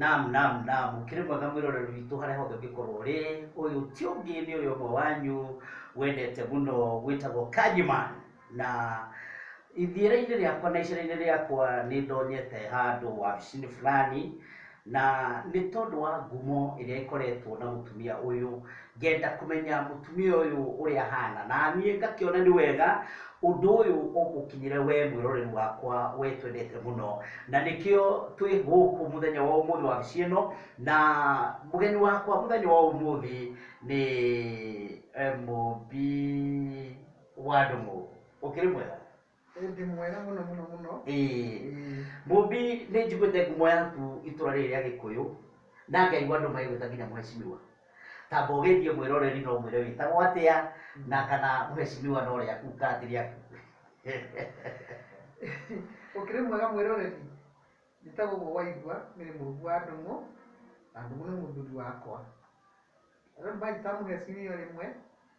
Naam, naam, naam, ũkĩrĩ mwega mwĩroreri witũ harĩa hothe ũngĩkorwo ũrĩ. Ũyũ ti ũngĩ nĩ ũyũ ũmwe wanyu wendete mũno wĩtagwo Kanjiman. Na ithiĩra-inĩ rĩakwa na icera-inĩ rĩakwa nĩ ndonyete handũ wabici-inĩ fulani, na nĩ tondũ wa ngumo ĩrĩa ĩkoretwo na mũtumia ũyũ, Ngenda kũmenya mũtumia ũyũ ũrĩa ahaana, na niĩ ngakĩona nĩ wega ũndũ ũyũ ũngũkinyĩre wee mwĩroreri wakwa wee twendete mũno. Na nĩkĩo twĩ gũkũ mũthenya wa ũmũthĩ wabici ĩno, na mũgeni wakwa mũthenya wa ũmũthĩ nĩ mũmbi wa ndũng'ũ. Ũkĩrĩ mwega? Ĩndĩ mwega mũno mũno mũno. Ĩĩ. Ĩĩ. Mũmbi nĩ njiguĩte ngumo yaku itũra rĩrĩ rĩa Gĩkũyũ, na ngaigua andũ magĩgwĩta nginya mũhecimiwa. Tamba ũgeithie mwĩroreri na ũmwĩre wĩtagwo atĩa, na kana mũhecimiwa no rĩaku kana ti rĩaku. Ũkĩrĩ mwega mwĩroreri? Njĩtagwo ũguo waigua, niĩ nĩ mũmbi wa Ndũng'ũ, na Ndũng'ũ nĩ mũthuri wakwa. Andũ nĩ manjĩtaga mũhecimiwa rĩmwe,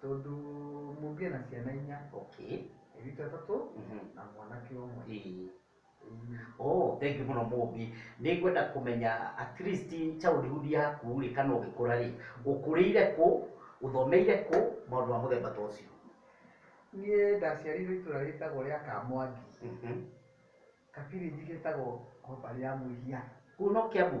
Tondũ mũngĩe na ciana inya. Okay. Airĩtu atatũ na mwanake ũmwe. Ĩĩ. Oh, thengiũ mũno mũmbi. Nĩ ngwenda kũmenya at least childhood yaku rĩ kana ũgĩkũra rĩ, ũkũrĩire kũ, ũthomeire kũ, maũndũ ma mũthemba ta ũcio. Niĩ ndaciarĩirwo itũra rĩtagwo rĩa Kamwangi, ka village getagwo Ngombarĩ ya Mũiria. Kũu no Kiambu?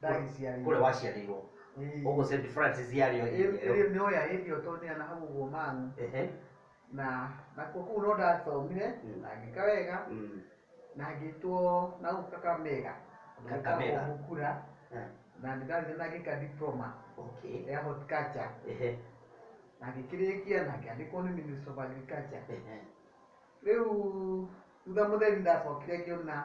ndagĩciarĩirwo kũrĩa waciarĩirwo Ĩĩ. ũguo St Francis yarĩ o area ĩyo ĩrĩa nĩoya hĩndĩ ĩyo tondũ nĩana hau ũguo mang'u Ehe. na nakuo kũu no ndathomire Mm. na ngĩka wega Mm. na ngĩtwo na gũkũ kakamega Ũndũ wĩtagwo Kakamega. mukura Eh, na ndĩrathire na ngĩka diploma okay. ya horticulture Ehe. na ngĩkĩrĩkia na ngĩandĩkwo nĩ minister of agriculture Ehe. rĩu thutha mũtheri ndacokire ngĩona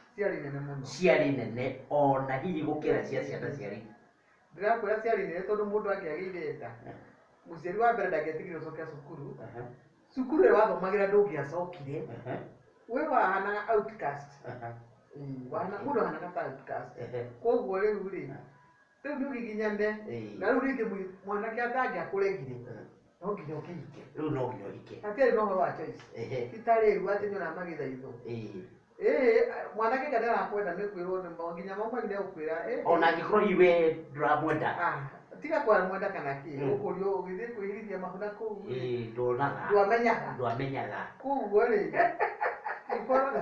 ciarĩ nene mũno ciarĩ nene ona hihi gũkĩra cia ciana ciarĩ ndĩrakwĩra ciarĩ nene tondũ mũndũ angĩagĩire nda mũciari wa mbere ndangĩatigire gũcokia cukuru Aha, cukuru ĩrĩa wathomagĩra ndũngĩacokire aha, we wahanaga outcast aha, Ĩĩ, wahana- mũndũ ahanaga ta outcast ehe. koguo rĩu rĩ Rĩu nĩ ũgiginyane. Ĩĩ. Na rĩu rĩngĩ mũi- mwanake atangĩakũregire, Mm. no nginya ũkĩhike. Rĩu no nginya ũhike. Hatirĩ na ũhoro wa choice. Ehe. Ti ta rĩu atĩ nĩ ũramagĩtha itho. Ĩĩ. Ĩĩ, mwanake kana arakwenda nĩ kwĩrwo nĩ mo nginya mama wanyu nĩ egũkwĩra ĩĩ. Ona angĩkorwo hihi we ndũramwenda. Ah, tiga kwamwenda kana kĩ, Mm. ũkũrio ũgĩthiĩ kwĩhithithia mahũna kũu rĩ, Ĩĩ, ndonaga. ndwamenyaga. Ndwamenyaga. Koguo rĩ, ingĩkorwo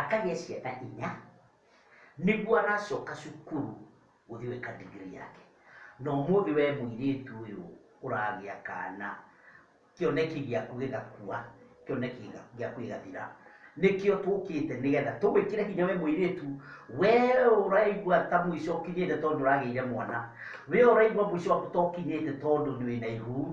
Akagĩa ciana inya nĩguo aracoka cukuru gũthiĩ gwĩka degree yake. Na ũmũthĩ we mũirĩtu ũyũ ũragĩa kana kĩoneki gĩaku gĩgakua, kĩoneki gĩaku gĩgathira. Nĩkĩo tũkĩte nĩgetha tũgwĩkĩre hinya we mũirĩtu, we ũraigua ta mũico ũkinyĩte tondũ nĩ ũragĩire mwana, we ũraigua mũico waku ta ũkinyĩte tondũ wĩna ihu.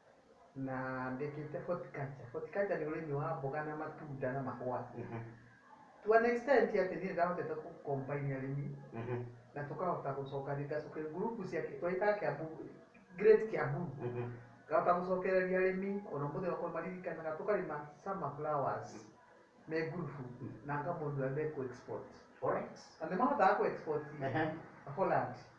Na ndĩkĩte horticulture. Horticulture nĩ ũrĩmi wa mboga na matunda na mahũa. To an extent atĩ niĩ nĩndahotete kũ combine arĩmi na tũkahota gũcokanĩrĩria, ngacokia group cia, twagĩtaga Kiambu, Great Kiambu. Ngahota gũcokereria arĩmi ona ũmũthĩ okorwo nĩmaririkanaga tũkarĩma summer flowers me group na ngamonia ũrĩa me kũ export. Na nĩmahotaga kũ export Holland.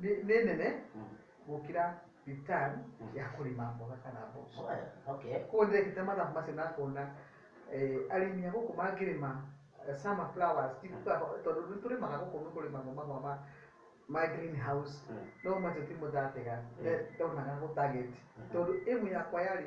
nĩ nĩ nene Mm. gũkĩra return ya kũrĩma mboga kana mboco Oya, okay. koguo ndĩrekĩte mathabu macio na ngona eh, arĩmi a gũkũ mangĩrĩma eh, summer flowers ti kuga ho- tondũ nĩ tũrĩmaga gũkũ nĩ kũrĩmagwo mahũa ma ma green house Mm. no macio ti mũthatega Mm. ndonaga gũ target Mm. tondũ ĩmu yakwa yarĩ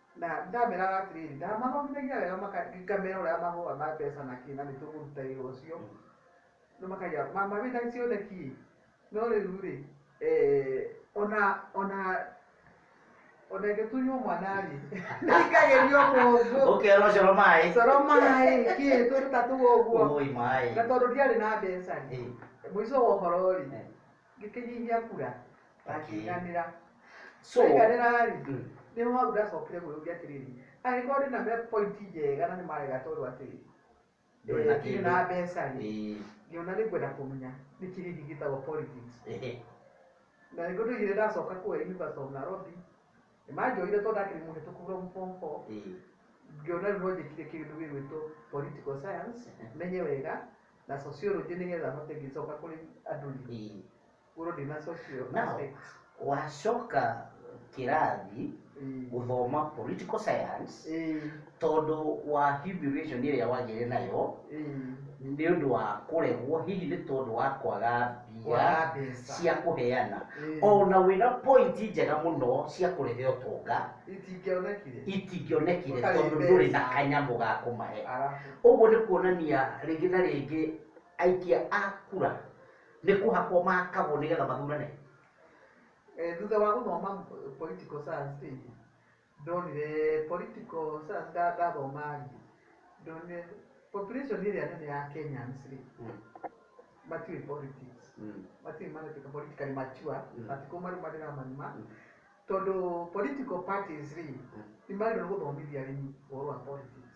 Na ndameraga atĩrĩrĩ, ndamathomithagia wega maka- ngamera ũrĩa mahũa ma mbeca na kĩ na nĩ tũkũruta wĩra ũcio no makagia mama wĩna cioneki no rĩu rĩ eh, ona ona ona ĩngĩtunywo mwana rĩ nĩingagĩrio mũngũ ũkerwo coro maĩ coro maĩ kĩ tũrĩ ta tũu ũguo ũĩ maĩ na tondũ ndiarĩ na mbeca rĩ Eh, mũico wa ũhoro rĩ eh, ngĩkĩnyihia kura akĩiganĩra so aiganĩra-rĩ mm, nĩho hau ndacokire gwĩyũria atĩrĩrĩ angĩkorwo ndĩ na me point njega na nĩ marega tondũ atĩrĩrĩ Ndũrĩ na eh, ndirĩ na kĩndũ. mbeca-rĩ ĩĩ, ngĩona nĩ ngwenda kũmenya nĩkĩ gĩkĩ gĩtagwo politics ehe, na nĩguo ndoigire ndacoka kũrĩa University of Nairobi Nĩmanjoire tondũ ndakĩrĩ mũhĩtũku from form four, Ĩĩ. ngĩona rĩu no njĩkire kĩndũ gĩgwĩtwo political science menye wega na sociology nĩgetha hote ngĩcoka kũrĩ andũ rĩ, Ĩĩ. ngorwo ndĩna social Now, aspects. wacoka kĩrathi Ĩĩ. gũthoma political science, Ĩĩ. tondũ wa humiliation ĩrĩa wagĩire nayo nĩ ũndũ wa kũregwo hihi nĩ tondũ wa kwaga mbia Kwaga mbeca. cia kũheana Mm. ona wĩna point njega mũno cia kũrehe ũtonga itingĩonekire itingĩonekire Ũtarĩ tondũ ndũrĩ na mbeca. kanyamũ ga kũmahe arabu ũguo nĩ kuonania rĩngĩ na rĩngĩ aikia a kura nĩ kũhakwo makagwo nĩgetha mathurane Eh, thutha wa gũthoma political science rĩngĩ Ndonire political science nda ndathoma rĩ, ndonire population ĩrĩa nene ya Kenyans rĩ, matiũĩ politics. Matiũĩ maratuĩka politically mature, matikũmarũmarĩra marima. Tondũ political parties rĩ, nĩ magĩrĩirwo nĩ gũthomithia arĩmi ũhoro wa politics.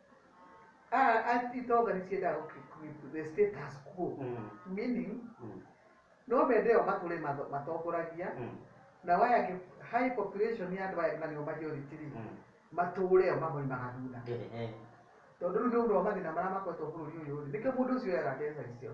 Ah, and it all can say that okay, with the status quo, Mm. meaning Mm. no mende ĩyo matũrĩ matho- matongoragia Mm. na waya kĩ- high population ya andũ aya na nĩo majority rĩ Mm. matũũre ĩyo mamoimaga thutha Eh, eh. tondũ rĩu nĩ ũndũ wa mathĩna marĩa makoretwo bũrũri ũyũ rĩ nĩkĩo mũndũ ũcio oyaga mbeca icio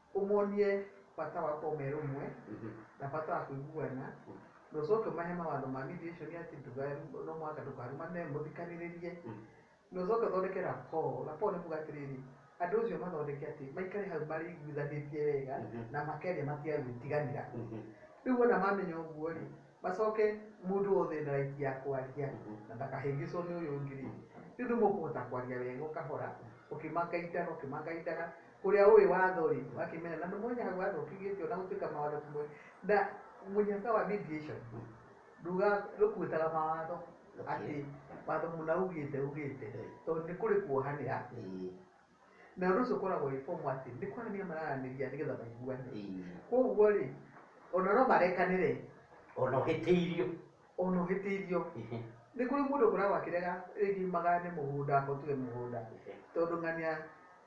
Ũmonie bata wa kuoya ũmwe na bata wa kũiguana, na ũcoke ũmahe mawatho ma mediation atĩ ndũkaru, no mũhaka ndũkarumane, mũthikanĩrĩrie, na ũcoke ũthondeke rapport. Rapport nĩ kuuga atĩrĩrĩ, andũ acio mathondeke atĩ maikare hau marĩiguithanĩtie wega na makeria matige gwĩtiganĩra. Rĩu wona mamenya ũguo rĩ, macoke mũndũ wothe ena right ya kwaria na ndakahĩngĩcwo nĩ ũyũ ũngĩ rĩ, rĩu nĩ mũkũhota kwaria wega o kahora, ũkĩmangaindaga, ũkĩmangaindaga. Ũrĩa ũĩ watho-rĩ, wa kĩmera, na mũno ũnya hau watho ũkiugĩte, o na gũtuĩka mawatho ti moĩ, na mũnyaka wa mediation ndũga, ndũkuĩtaga mawatho atĩ watho mũna ugĩte, ugĩte, tondũ nĩ kũrĩ kuohanĩra, na ũndũ ũcio ũkoragwo wĩ formal atĩ nĩ kwaranĩria mararanĩria nĩ getha maiguane. Kũguo-rĩ, o na no marekanĩre. O na ũhĩtĩirio. O na ũhĩtĩirio. Nĩ kũrĩ mũndũ ũkoragwo akĩrega rĩngĩ magayane mũgũnda, okorwo tuge mũgũnda, tondũ ng'ania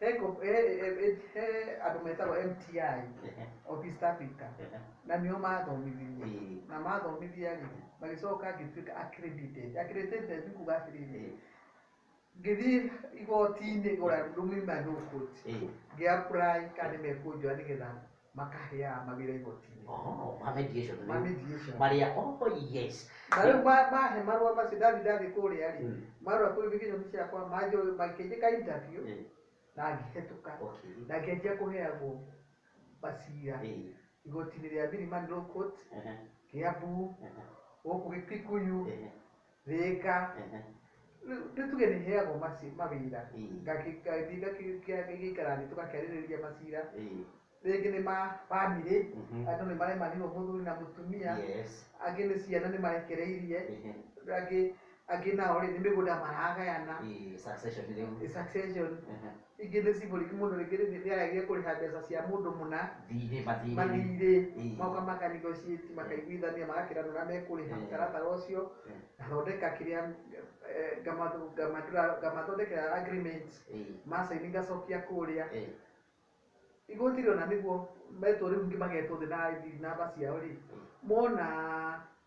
He group- he- he- he- he andũ metagwo mti Ehe, of east africa ehe. na nĩo mathomithirie Ĩĩ, na mathomithia rĩ magĩcoka ngĩtuĩka accredited accredited nĩ kuga atĩrĩrĩ ĩĩ, ngĩthiĩ igoti-inĩ gora rũmima no koti ĩĩ. ngĩapurai kana nĩ mekũnjoya nĩgetha makaheaga mawĩra igoti-inĩ Oh, ma mediation. ma mediation Marĩa, oh yes. na rĩu ma- mahe marũa macio ndathi ndathi kũrĩa rĩ Mm. marũa qualification ciakwa manjo makĩnjĩka interview Eh, na ngĩhetũka Okay. na ngĩanjia kũheagwo macira Eh, igoti-inĩ rĩa Milimani Law Court ehe, Kiambu ehe, gũkũ Kikuyu ehe. rĩka Ehe. Rĩu- rĩu tuge nĩ heagwo maci- mawĩra Ĩĩ. Ngakĩ- ngathiĩ ngakĩ- ngĩa- ngĩikara thĩ tũgakĩarĩrĩria macira Ĩĩ. rĩngĩ nĩ ma bamĩrĩ Mhm. andũ nĩ maremanirwo mũthuri na mũtumia Yes. angĩ nĩ ciana nĩ marekereirie Ehe. angĩ angĩ nao rĩ nĩ mĩgũnda maragayana Ĩĩ, succession rĩu. succession Ehe. Ingĩ nĩ symbolic mũndũ rĩngĩ rĩngĩ nĩaragire kũrĩha mbeca cia mũndũ mũna Thiirĩ, mathiirĩ. mathiirĩ Ĩĩ. magoka maka negotiate makaiguithania magakĩrana ũrĩa mekũrĩha Ĩĩ. mũtaratara ũcio Ĩĩ. ngathondeka kĩrĩa eh, ngamathu- ngamathuura- ngamathondekera agreement Ĩĩ. ma sign ngacokia kũũrĩa Ĩĩ. igoti rĩona nĩguo metwo rĩu ningĩ magetwo thĩ na ID namba ciao rĩ mona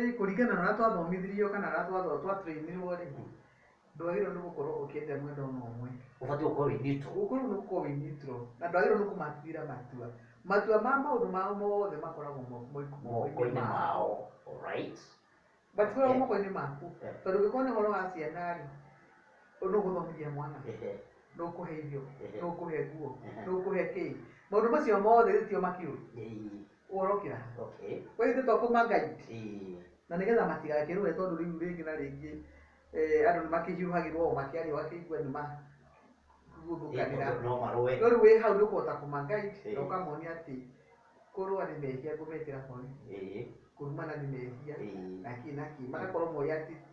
Ĩĩ kũringana na ũrĩa twathomithirio kana ũrĩa twathoma twa train irwo rĩ, ndwagĩrĩirwo nĩ gũkorwo ũkĩenda mwena ona ũmwe. Ũbatiĩ gũkorwo wĩ neutral. Ũkorwo nĩ gũkorwo wĩ neutral. Na ndwagĩrĩirwo nĩ kũmatuĩra matua. Matua ma maũndũ mao mothe makoragwo mo moiko Moko-inĩ moko-inĩ mao. mao. Alright. Matikoragwo Ehe. moko-inĩ maku. Ehe. Tondũ ũngĩkorwo nĩ ũhoro wa ciana rĩ, ũ nũ ũgũthomithia mwana? Ehe. Nũ ũkũhe irio? Ehe. Nũ ũkũhe nguo? Ehe. Nũ ũkũhe kĩĩ? Maũndũ macio mothe rĩu tio makĩũri? Ĩĩ. kuorokera okay kwa ithuĩ to kuma guide ĩĩ na nĩgetha matigakĩrũe tondũ rĩu rĩngĩ na rĩngĩ eh, andũ nĩ makĩhiũhagĩrwo o makĩaria ũgakĩigua nĩ ma Ĩĩ, gũthũkanĩra tondũ no marũe no rĩu wĩ hau nĩ ũkũhota kuma guide Ĩĩ. na ũkamonia atĩ kũrũa nĩ mehia ngũmekĩra borithi ĩĩ kũrumana nĩ mehia ĩĩ na kĩ na kĩ magakorwo moĩ atĩ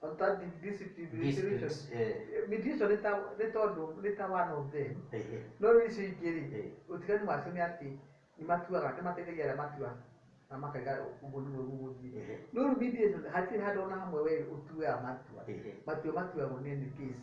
Under the, this, the, This the reason. is, eh, Mediation nĩ ta- nĩ tondũ nĩ ta one of them eh, eh, no rĩu icio ingĩ rĩ eh. ũtiganu wacio nĩ atĩ nĩ matuaga nĩ mateithagia arĩa matua na makaiga ũguo nĩguo gũgũthiĩ Ehe. no rĩu mediation hatirĩ handũ ona hamwe we ũtuaga matua Ehe. matua matuagwo nĩ nĩ case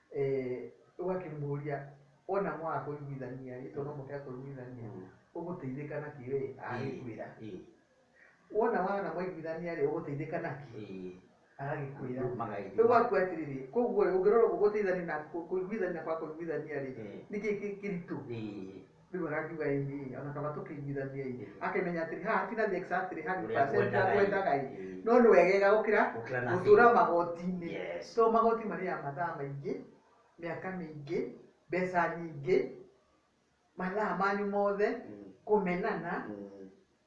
eh, ũgakĩmũria ona mwaga kũiguithania rĩ tondũ no mũhaka kũiguithania Mm. ũgũteithĩka na kĩ we agĩkwĩra Ĩĩ, wona wana mwaiguithania rĩ ũgũteithĩka na kĩ ĩĩ. agagĩkwĩra Rĩu magagĩthiĩ. rĩu waku atĩrĩrĩ koguo rĩ ũngĩrora ũguo gũteithania na kũ- kũiguithania kwa kũiguithania rĩ Ĩĩ. nĩkĩ kĩ- kĩritũ Ĩĩ. Rĩu akangiuga ĩ ĩ, ona kaba tũkĩiguithanie ĩ, Ĩĩ. akamenya atĩrĩ haha ti na the exactly Ũrĩa 100% ũrĩa ngwendaga ĩ. ngwendaga ĩ, Ĩĩ. no nĩ wegega gũkĩra Gũkĩra nothing. gũtũra magoti-inĩ. Yes. So magoti marĩaga mathaa maingĩ, mĩaka mĩingĩ, mbeca nyingĩ, mathaa manyu mothe, Mm. kũmenana, Mm.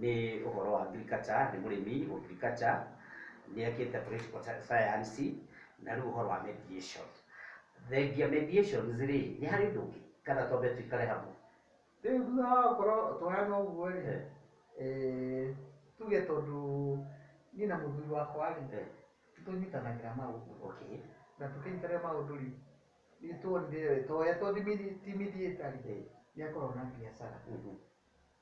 Nĩ ũhoro wa agriculture, nĩ mũrĩmi wa agriculture, nĩ ekĩte political science na rĩu ũhoro wa mediation. Thengia mediations rĩ, nĩ harĩ ũndũ ũngĩ kana twambe tũikare hamwe? Rĩu thutha wa gũkorwo twahana ũguo rĩ, tuge tondũ niĩ na mũthuri wakwa rĩ, nĩ tũnyitanagĩra maũndũ na tũkĩnyitanĩra maũndũ rĩ, nĩ tuonire we ta ũrĩa tũthimithĩte rĩ, nĩ akoragwo na biacara.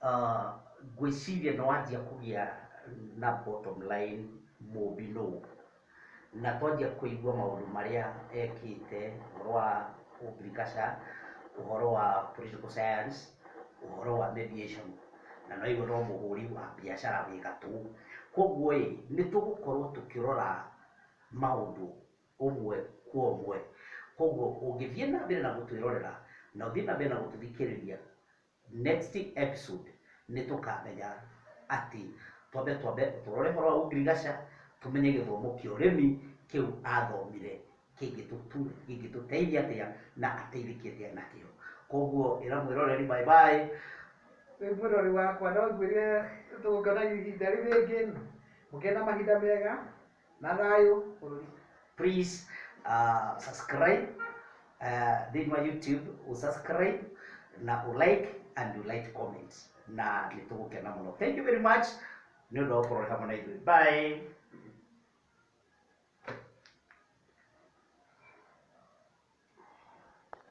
Uh, ngwĩciria nĩ wanjia kũgĩa na bottom line mũmbi nũ na twanjia kũigua maũndũ marĩa ekĩte ũhoro wa ũngirigaca ũhoro wa political science ũhoro wa mediation na no igwe no mũhũri wa biacara wĩ gatũ koguo ĩ nĩ tũgũkorwo tũkĩrora maũndũ ũmwe kwa ũmwe koguo ũngĩthiĩ na mbere na gũtwĩrorera na ũthiĩ na mbere na gũtũthikĩrĩria Next episode nĩtũkamenya atĩ twambe twambe tũrore ũhoro wa ũngirigaca, tũmenye gĩthomo kĩa ũrĩmi kĩu athomire kĩngĩtũtu- kĩngĩtũteithia atĩa na ateithĩke atĩa nakĩo. Koguo ĩra mwĩroreri bye bye. Wĩ mwĩrori wakwa no ngwĩre tũngona ihinda rĩu rĩngĩ, mũgĩe na mahinda mega. na thayũ bũrũri please uh, subscribe uh, thĩinĩ wa youtube usubscribe na ulike and ulike comment na nĩ tũgũkena mũno thank you very much nĩ ũndũ wa gũkorwo ũrĩ hamwe na ithuĩ bye